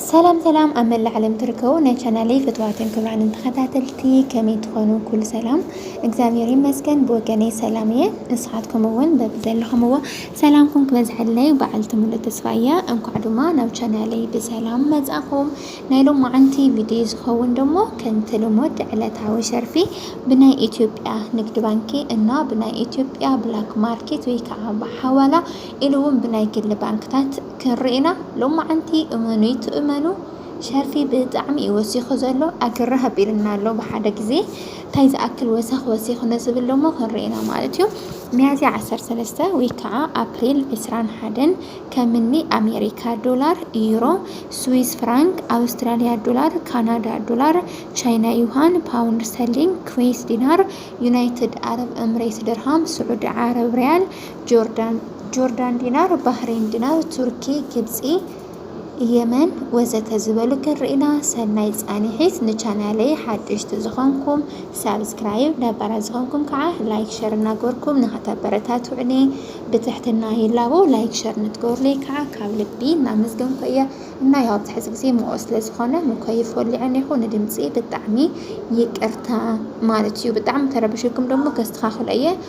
ሰላም ሰላም ኣብ መላእ ዓለም ትርከቡ ናይ ቻናለይ ፍትዋትን ክብራንን ተኸታተልቲ ከመይ ትኾኑ? ኩሉ ሰላም እግዚኣብሔር ይመስገን ብወገነይ ሰላም እየ። ንስኻትኩም እውን በቢ ዘለኹምዎ ሰላምኩም ክበዝሐለይ በዓልቲ ሙሉእ ተስፋ እየ። እንኳዕ ድማ ናብ ቻናለይ ብሰላም መጻኹም። ናይ ሎማዓንቲ ቪድዮ ዝኸውን ደሞ ከምቲ ልሙድ ዕለታዊ ሸርፊ ብናይ ኢትዮጵያ ንግድ ባንኪ እና ብናይ ኢትዮጵያ ብላክ ማርኬት ወይ ከዓ ብሓዋላ ኢሉ እውን ብናይ ግሊ ባንክታት ክንርኢ ኢና ሎማዓንቲ እመኑይ ትእመኑ ሸርፊ ብጣዕሚ እዩ ወሲኹ ዘሎ ኣግርህ ኣቢሉና ኣሎ ብሓደ ግዜ ታይ ዝኣክል ወሰኽ ወሲኹ ንዝብል ደሞ ክንርኢ ኢና ማለት እዩ ሚያዝያ ዓሰርተ ሰለስተ ወይ ከዓ ኣፕሪል ዕስራን ሓደን ከምኒ ኣሜሪካ ዶላር ዩሮ ስዊስ ፍራንክ ኣውስትራሊያ ዶላር ካናዳ ዶላር ቻይና ዩሃን ፓውንድ ስተርሊንግ ኩዌስ ዲናር ዩናይትድ ኣረብ እምሬት ድርሃም ስዑዲ ዓረብ ሪያል ጆርዳን ጆርዳን ዲናር ባህሬን ዲናር ቱርኪ ግብጺ የመን ወዘተ ዝበሉ ክንርኢና ሰናይ ጻኒሒት ንቻናለይ ሓደሽቲ ዝኾንኩም ሳብስክራይብ ነባራት ዝኾንኩም ከዓ ላይክ ሸር እናገበርኩም ንኸተበረታትዑኒ ብትሕትና ይላቦ ላይክ ሸር ንትገብሩለይ ከዓ ካብ ልቢ እናመስገንኩ እየ እና ያው ኣብዚ ሕዚ ግዜ ምኦ ስለ ዝኾነ ምኮይፍ ወሊዐ እኒኹ ንድምፂ ብጣዕሚ ይቅርታ ማለት እዩ ብጣዕሚ ተረብሽኩም ደግሞ ከስተኻኽሎ እየ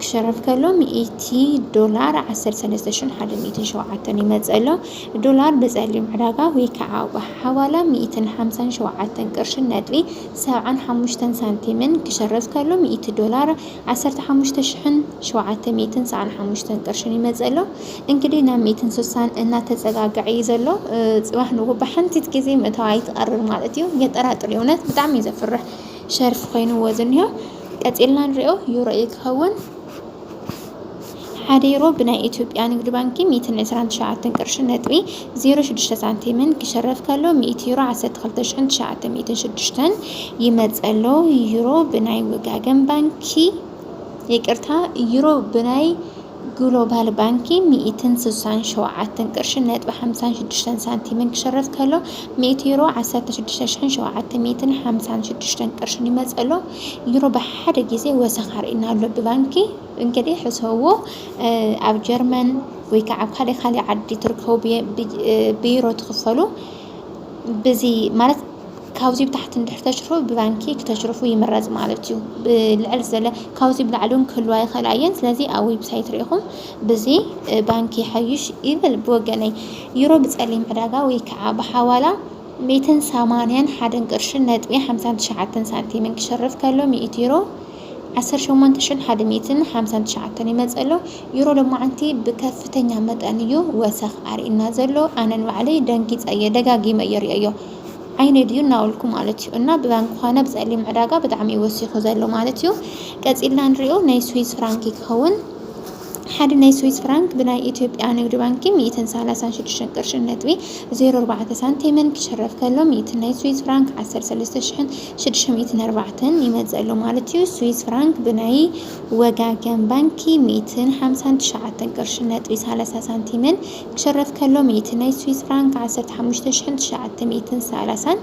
ክሸርፍ ከሎ ሚእቲ ዶላር ዓሰርተ ሰለስተ ሽሕን ሓደን ሚእትን ሸውዓተን ይመጽእ ኣሎ። ዶላር ብጸሊም ዕዳጋ ወይ ከዓ ኣቑሑ ሓዋላ ሚእትን ሓምሳን ሸውዓተን ቅርሽን ነጥቢ ሰብዓን ሓሙሽተን ሳንቲምን ክሸርፍ ከሎ ሚእቲ ዶላር ዓሰርተ ሓሙሽተ ሽሕን ሸውዓተ ሚእትን ሰዓን ሓሙሽተን ቅርሽን ይመጽእ ኣሎ። እንግዲህ ናብ ሚእትን ስሳን እናተጸጋግዐ እዩ ዘሎ። እ፣ ጽባሕ ንግሆ ብሓንቲት ግዜ ምእታዋ ይትቐርር ማለት እዩ። የጠራጥር እዩ እውነት ብጣዕሚ እዩ ዘፍርሕ። ሸርፊ ኮይንዎ ዝኒሆ ቀፂልና ንሪኦ ዩሮ እዩ ክኸውን ሓደ ዩሮ ብናይ ኢትዮጵያ ንግድ ባንኪ ሚእትን ዕስራን ትሽዓተን ቅርሺ ነጥቢ ዜሮ ሽዱሽተ ሳንቲምን ክሸረፍ ከሎ ሚእቲ ዩሮ ዓሰርተ ክልተ ሽሕን ትሽዓተ ሚእትን ሽዱሽተን ይመፀሎ ዩሮ ብናይ ወጋገን ባንኪ ይቅርታ ዩሮ ብናይ ግሎባል ባንኪ ሚእትን ስሳን ሸውዓተን ቅርሽን ነጥቢ ሓምሳን ሽዱሽተን ሳንቲምን ክሽረፍ ከሎ ሚእቲ ዩሮ ዓሰርተ ሽዱሽተ ሽሕን ሸውዓተ ሚእትን ሓምሳን ሽዱሽተን ቅርሽን ይመጽእ ኣሎ። ዩሮ ብሓደ ግዜ ወሰኽ ኣርእዩና ኣሎ ብባንኪ። እንግዲህ ሕሰብዎ ኣብ ጀርመን ወይ ከዓ ኣብ ካልእ ካልእ ዓዲ ትርከቡ ብዩሮ ትኽፈሉ ብዚ ማለት ካብዙይ ብታሕቲ እንድሕር ተሽርፉ ብባንኪ ክተሽርፉ ይምረፅ ማለት እዩ። ብልዕል ዘለ ካብዙይ ብላዕሊ እውን ክህልዋ ይኽእላ እየን። ስለዚ ኣብ ዌብሳይት ሪኢኹም ብዚ ባንኪ ይሓይሽ ይብል ብወገነይ። ዩሮ ብፀሊም ዕዳጋ ወይ ከዓ ብሓዋላ ሚእትን ሰማንያን ሓደን ቅርሽን ነጥቢ ሓምሳን ትሽዓተን ሳንቲምን ክሽርፍ ከሎ ሚእቲ ዩሮ ዓሰርተ ሸሞንተ ሽሕን ሓደ ሚእትን ሓምሳን ትሽዓተን ይመፅእ ኣሎ። ዩሮ ሎማዓንቲ ብከፍተኛ መጠን እዩ ወሰኽ ኣርእዩና ዘሎ። ኣነ ንባዕለይ ደንጊፀ እየ ደጋጊመ እየ ሪኦዮ። ኣይነድዩ እናበልኩ ማለት እዩ እና ብባንክ ኾነ ብፀሊም ዕዳጋ ብጣዕሚ እዩ ወሲኹ ዘሎ ማለት እዩ ቀፂልና ንሪኦ ናይ ስዊዝ ፍራንክ ክኸውን ሓደ ናይ ስዊዝ ፍራንክ ብናይ ኢትዮጵያ ንግድ ባንኪ 136 ቅርሺ ነጥቢ 04 ሳንቲምን ክሽረፍ ከሎ 100 ናይ ስዊዝ ፍራንክ 13640 ይመፅእ ኣሎ ማለት እዩ። ስዊዝ ፍራንክ ብናይ ወጋገን ባንኪ 159 ቅርሺ ነጥቢ 30 ሳንቲምን ክሽረፍ ከሎ ሚእቲ ናይ ስዊዝ ፍራንክ ዓሰርተ ሓሙሽተ ሽሕን ትሽዓተ ሚእትን ሰላሳን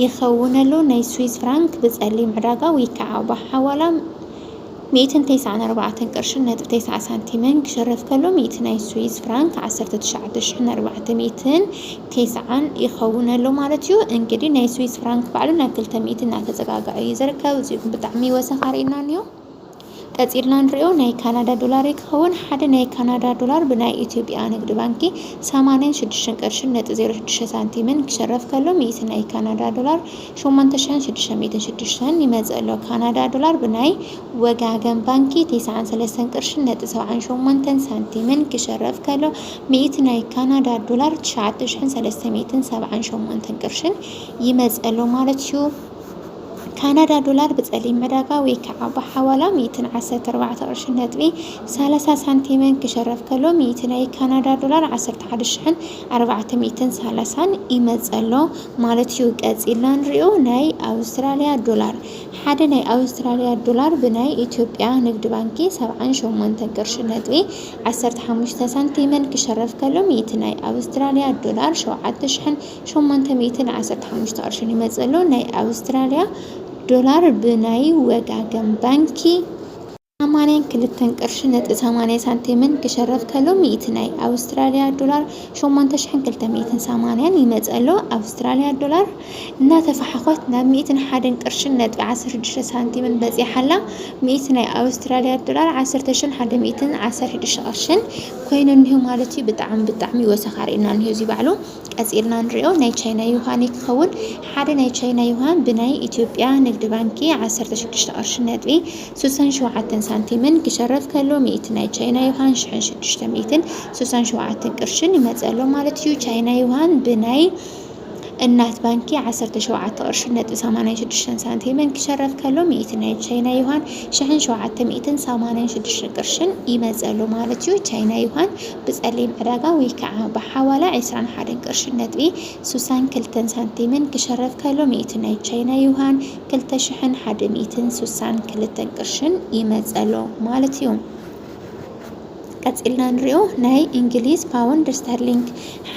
ይኸውን ኣሎ። ናይ ስዊዝ ፍራንክ ብጸሊም ዕዳጋ ውይከዓ ብሓዋላ ሚእትን ተስዓን ኣርባዕተን ቅርሽን ነጥቢ ተስዓ ሳንቲምን ክሽረፍ ከሎ ሚእቲ ናይ ስዊዝ ፍራንክ ዓሰርተ ትሽዓተ ሽሕን ኣርባዕተ ሚእትን ተስዓን ይኸውን ኣሎ ማለት እዩ። እንግዲ ናይ ስዊዝ ፍራንክ ባዕሉ ናብ ክልተ ሚእቲ እናተጸጋግዐ እዩ ዝርከብ። እዚኹም ብጣዕሚ ወሰኽ ኣርእዩና እንዮ። ቀጺልና ንሪኦ ናይ ካናዳ ዶላር'ዩ ክኸውን። ሓደ ናይ ካናዳ ዶላር ብናይ ኢትዮጵያ ንግድ ባንኪ ሰማንያን ሽዱሽተን ቅርሽን ነጥቢ ዜሮ ሽዱሽተ ሳንቲምን ክሸረፍ ከሎ ሚእቲ ናይ ካናዳ ዶላር ሸሞንተ ሽሕን ሽዱሽተ ሚእትን ሽዱሽተን ይመጽእ ኣሎ። ካናዳ ዶላር ብናይ ወጋገን ባንኪ ቴስዓን ሰለስተን ቅርሽን ነጥቢ ሰብዓን ሸሞንተን ሳንቲምን ክሸረፍ ከሎ ሚእቲ ናይ ካናዳ ዶላር ትሽዓተ ሽሕን ሰለስተ ሚእትን ሰብዓን ሸሞንተን ቅርሽን ይመጽእ ኣሎ ማለት'ዩ። ካናዳ ዶላር ብፀሊም ዕዳጋ ወይ ከዓ ብሓዋላ ሚእትን ዓሰርተ ኣርባዕተ ቅርሽን ነጥቢ ሰላሳ ሳንቲምን ክሸረፍ ከሎ ሚእቲ ናይ ካናዳ ዶላር ዓሰርተ ሓደ ሽሕን ኣርባዕተ ሚእትን ሰላሳን ይመፀሎ ማለት እዩ። ቀፂልና ንሪኦ ናይ ኣውስትራሊያ ዶላር ሓደ ናይ ኣውስትራሊያ ዶላር ብናይ ኢትዮጵያ ንግድ ባንኪ ሰብዓን ሸሞንተን ቅርሽን ነጥቢ ዓሰርተ ሓሙሽተ ሳንቲምን ክሸረፍ ከሎ ሚእቲ ናይ ኣውስትራሊያ ዶላር ሸውዓተ ሽሕን ሸሞንተ ሚእትን ዓሰርተ ሓሙሽተ ቅርሽን ይመጽእ ኣሎ። ናይ ኣውስትራልያ ዶላር ብናይ ወጋገን ባንኪ። ሰማንያን ክልተን ቅርሺ ነጥቢ ሰማንያ ሳንቲምን ክሸረፍ ከሎ ሚእቲ ናይ ኣውስትራልያ ዶላር ሸሞንተ ሽሕን ክልተ ሚእትን ሰማንያን ይመጽእ ኣሎ። ኣውስትራልያ ዶላር እናተፋሓኾት ናብ ሚእትን ሓደን ቅርሽን ነጥቢ ዓሰርተ ሽዱሽተ ሳንቲምን በጺሓ ኣላ። ሚእቲ ናይ ኣውስትራልያ ዶላር ዓሰርተ ሽሕን ሓደ ሚእትን ዓሰርተ ሽዱሽተ ቅርሽን ኮይኑ እኒሆ ማለት እዩ። ብጣዕሚ ብጣዕሚ ወሰኻ ርኢና እኒሆ እዚ ባዕሉ። ቀጺልና ንሪኦ ናይ ቻይና ዩሃን እዩ ክኸውን። ሓደ ናይ ቻይና ዩሃን ብናይ ኢትዮጵያ ንግዲ ባንኪ ዓሰርተ ሽዱሽተ ቅርሺ ነጥቢ ስሳን ሸውዓተን ሳንቲምን ክሸረፍ ከሎ ሚእቲ ናይ ቻይና ዩሃን ሽሕን ሽዱሽተ ሚእትን ስሳን ሸውዓተን ቅርሽን ይመጽእ ኣሎ ማለት እዩ። ቻይና ዩሃን ብናይ እናት ባንኪ ዓሰርተ ሸውዓተ ቅርሺ ነጥቢ ሰማንያን ሽዱሽተን ሳንቲምን ክሸረፍ ከሎ ሚእቲ ናይ ቻይና ዩሃን ሽሕን ሸውዓተ ሚእትን ሰማንያን ሽዱሽተ ቅርሽን ይመጽእ ኣሎ ማለት እዩ። ቻይና ዩሃን ብጸሊም ዕዳጋ ወይ ከኣ ብሓዋላ ዕስራን ሓደን ቅርሽን ነጥቢ ሱሳን ክልተን ሳንቲምን ክሸረፍ ከሎ ሚእቲ ናይ ቻይና ዩሃን ክልተ ሽሕን ሓደ ሚእትን ሱሳን ክልተን ቅርሽን ይመጽእ ኣሎ ማለት እዩ። ቀጺልና ንሪኦ ናይ እንግሊዝ ፓውንድ ስተርሊንግ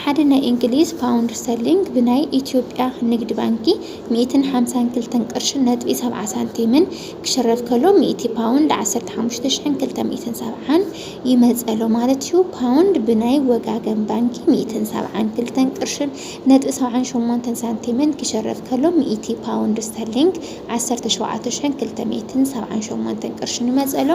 ሓደ ናይ እንግሊዝ ፓውንድ ስተርሊንግ ብናይ ኢትዮጵያ ንግድ ባንኪ ሚእትን ሓምሳን ክልተን ቅርሽን ነጥቢ ሰብዓ ሳንቲምን ክሽረፍ ከሎ ሚእቲ ፓውንድ ዓሰርተ ሓሙሽተ ሽሕን ክልተ ሚእትን ሰብዓን ይመጸሎ ማለት እዩ። ፓውንድ ብናይ ወጋገን ባንኪ ሚእትን ሰብዓን ክልተን ቅርሽን ነጥቢ ሰብዓን ሸሞንተን ሳንቲምን ክሸረፍ ከሎ ሚእቲ ፓውንድ ስተርሊንግ ዓሰርተ ሸውዓተ ሽሕን ክልተ ሚእትን ሰብዓን ሸሞንተን ቅርሽን ይመጸሎ።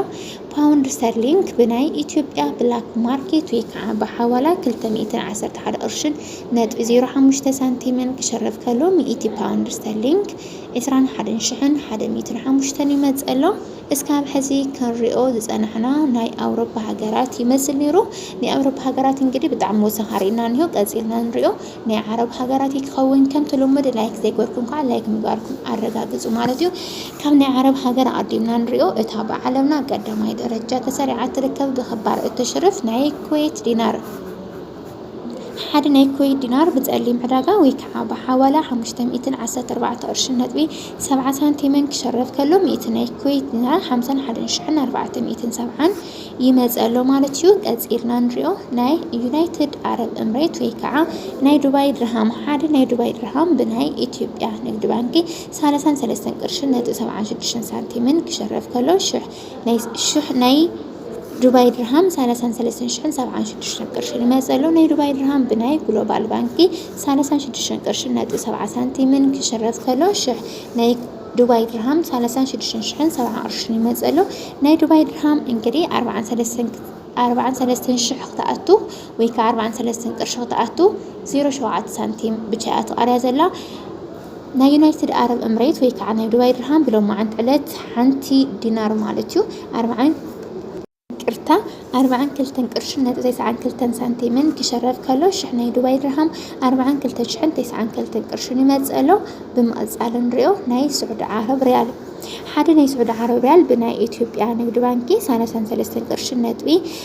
ፓውንድ ስተርሊንግ ብናይ ኢትዮጵያ ብላክ ማርኬት ወይ ከዓ ብሓዋላ ክልተ ሚእትን ዓሰርተ ሓደ ቅርሽን ነጥቢ ዜሮ ሓሙሽተ ሳንቲምን ክሸረፍ ከሎ ሚእቲ ፓውንድ ስተርሊንግ ዕስራን ሓደን ሽሕን ሓደ ሚእትን ሓሙሽተን ይመጸሎ። እስካብ ሕዚ ክንሪኦ ዝጸናሕና ናይ ኣውሮፓ ሃገራት ይመስል ነይሩ። ናይ ኣውሮፓ ሃገራት እንግዲህ ብጣዕሚ ወሰኻ ርኢና እንሆ ቀጺልና ንሪኦ ናይ ዓረብ ሃገራት እዩ ክኸውን። ከምቲ ልሙድ ላይክ ዘይገርኩም ከዓ ላይክ ምግባርኩም ኣረጋግጹ ማለት እዩ። ካብ ናይ ዓረብ ሃገር ኣቐዲምና ንሪኦ እታ ብዓለምና ቀዳማይ ደረጃ ተሰሪዓ እትርከብ ብክባር እትሽርፍ ናይ ኩዌት ዲናር ሓደ ናይ ኩዌት ዲናር ብጸሊም ዕዳጋ ወይ ከኣ ብሓዋላ ሓሙሽተ ሚእትን ዓሰርተ ኣርባዕተ ቅርሽን ነጥቢ ሰብዓ ሳንቲምን ክሸርፍ ከሎ ሚእቲ ናይ ኩዌት ዲናር ሓምሳን ሓደን ሽሕን ኣርባዕተ ሚእትን ሰብዓን ይመጽእ ኣሎ ማለት እዩ ቀጺልና ንሪኦ ናይ ዩናይትድ ኣረብ እምሬት ወይ ከኣ ናይ ዱባይ ድርሃም ሓደ ናይ ዱባይ ድርሃም ብናይ ኢትዮጵያ ንግድ ባንኪ ሳላሳን ሰለስተን ቅርሽን ነጥቢ ሰብዓን ሽዱሽተን ሳንቲምን ክሸርፍ ከሎ ሽሕ ናይ ሽሕ ናይ ዱባይ ድርሃም ሳላሳን ሰለስተን ሽሕን ሰብዓን ሽዱሽተን ቅርሺ ንመጸሎ ናይ ዱባይ ድርሃም ብናይ ግሎባል ባንኪ ሳላሳን ሽዱሽተን ቅርሺ ነጥቢ ሰብዓ ሳንቲምን ክሽረፍ ከሎ ሽሕ ናይ ዱባይ ድርሃም ሳላሳን ሽዱሽተን ሽሕን ሰብዓ ቅርሺ ንመጸሎ ናይ ዱባይ ድርሃም እንግዲህ ኣርባዓን ሰለስተን ኣርባዓን ሰለስተን ሽሕ ክትኣቱ ወይ ከዓ ኣርባዓን ሰለስተን ቅርሺ ክትኣቱ ዜሮ ሸውዓተ ሳንቲም ብቻ እያ ትቐርያ ዘላ ናይ ዩናይትድ ዓረብ እምሬት ወይ ከዓ ናይ ዱባይ ድርሃም ብሎማዓንቲ ዕለት ሓንቲ ዲናር ማለት እዩ ኣርብዓን ቅርታ ኣርብዓን ክልተን ቅርሽን ነጥቢ ተስዓን ክልተን ሳንቲምን ክሸረፍ ከሎ ሽሕ ናይ ዱባይ ድርሃም ኣርብዓን ክልተ ሽሕን ተስዓን ክልተን ቅርሽን ይመፅእ ኣሎ ብምቕፃል ንሪኦ ናይ ስዑዲ ዓረብ ሪያል ሓደ ናይ ስዑዲ ዓረብ ሪያል ብናይ ኢትዮጵያ ንግድ ባንኪ ሳላሳን ሰለስተን ቅርሽን ነጥቢ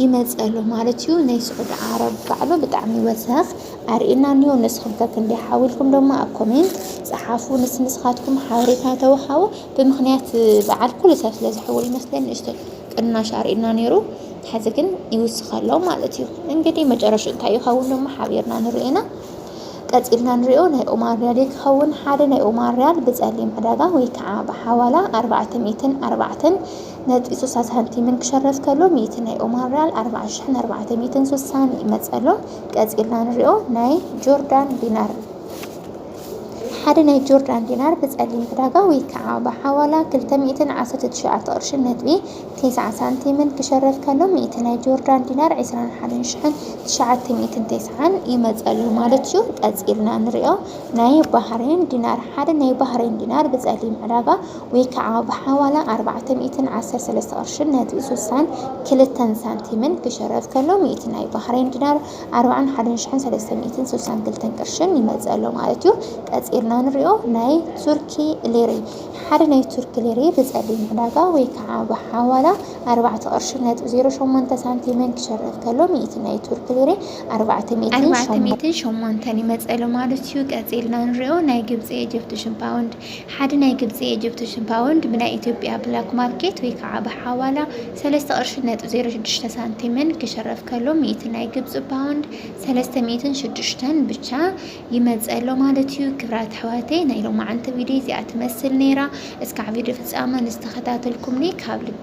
ይመጽእ ኣሎ ማለት እዩ ናይ ስዑዲ ዓረብ ባዕሉ ብጣዕሚ ወሰኽ ኣርእየና እንዮ ንስኹም ከ ክንደይ ሓው ኢልኩም ደሞ ኣብ ኮሜንት ጸሓፉ ንስ ንስኻትኩም ሓበሬታ ተወሃቡ ብምኽንያት በዓል ኩሉ ሰብ ስለ ዝሕውል ይመስለኒ ንእሽቶ ቅናሽ ኣርእየና ነይሩ ሕዚ ግን ይውስኽ ኣሎ ማለት እዩ እንግዲህ መጨረሽ እንታይ ይኸውን ደሞ ሓቢርና ንርኢ ኢና ቀጺልና ንሪኦ ናይ ኦማር ሪያል ክኸውን ሓደ ናይ ኦማር ሪያል ብጸሊም ዕዳጋ ወይ ከዓ ብሓዋላ ኣርባዕተ ሚእትን ኣርባዕተን ነጥቢ ሱሳ ሳንቲምን ክሸረፍ ከሎ ሚእቲ ናይ ኦማን ርያል ኣርብዓ ሽሕን ኣርባዕተ ሚእትን ሱሳን ይመጽእ ኣሎ። ቀጺልና ንሪኦ ናይ ጆርዳን ዲናር ሓደ ናይ ጆርዳን ዲናር ብጸሊም ዕዳጋ ወይ ከዓ ብሓዋላ ክልተ ሚእትን ዓሰርተ ትሽዓተ ቅርሽን ነጥቢ ቴስዓ ሳንቲምን ክሸረፍ ከሎ ሚእቲ ናይ ጆርዳን ዲናር ዕስራን ሓደን ሽሕን ትሽዓተ ሚእትን ቴስዓን ይመጽእ ኣሎ ማለት እዩ። ቀጺልና ንሪኦ ናይ ባህሬን ዲናር ሓደ ናይ ባህሬን ዲናር ብጸሊም ዕዳጋ ወይ ከዓ ብሓዋላ ኣርባዕተ ሚእትን ዓሰርተ ሰለስተ ቅርሽን ነጥቢ ስሳን ክልተን ሳንቲምን ክሽረፍ ከሎ ሚእቲ ናይ ባህሬን ዲናር ኣርባዓን ሓደን ሽሕን ሰለስተ ሚእትን ስሳን ክልተን ቅርሽን ይመፅእ ኣሎ ማለት እዩ። ቀፂልና ንሪኦ ናይ ቱርኪ ሊሪ ሓደ ናይ ቱርኪ ሊሪ ብፀሊም ዕዳጋ ወይ ከዓ ብሓዋላ ኣርባዕተ ቅርሽን ነጥቢ ዜሮ ሸሞንተ ሳንቲምን ክሽረፍ ከሎ ሚእቲ ናይ ቱርኪ ሊሪ ኣርባዕተ ሚእትን ኣርባዕተ ሸሞንተ ሚእትን ሸሞንተን ይመፅእ ኣሎ ማለት እዩ። ቀፂልና ንሪኦ ናይ ግብፂ ኤጅፕቲሽን ፓውንድ ሓደ ናይ ግብፂ ኤጅፕትሽን ፓውንድ ብናይ ኢትዮጵያ ብላክ ማርኬት ወይ ከዓ ብሓዋላ ሰለስተ ቅርሺ ነጥቢ ዜሮ ሽዱሽተ ሳንቲምን ክሽረፍ ከሎ ሚእቲ ናይ ግብፂ ፓውንድ ሰለስተ ሚእትን ሽዱሽተን ብቻ ይመፀሎ ማለት እዩ። ክብራት ኣሕዋተይ ናይ ሎማዓንቲ ቪዲዮ እዚኣ ትመስል ነይራ። እስካዕ ቪዲዮ ፍፃመ ንዝተኸታተልኩምኒ ካብ ልቢ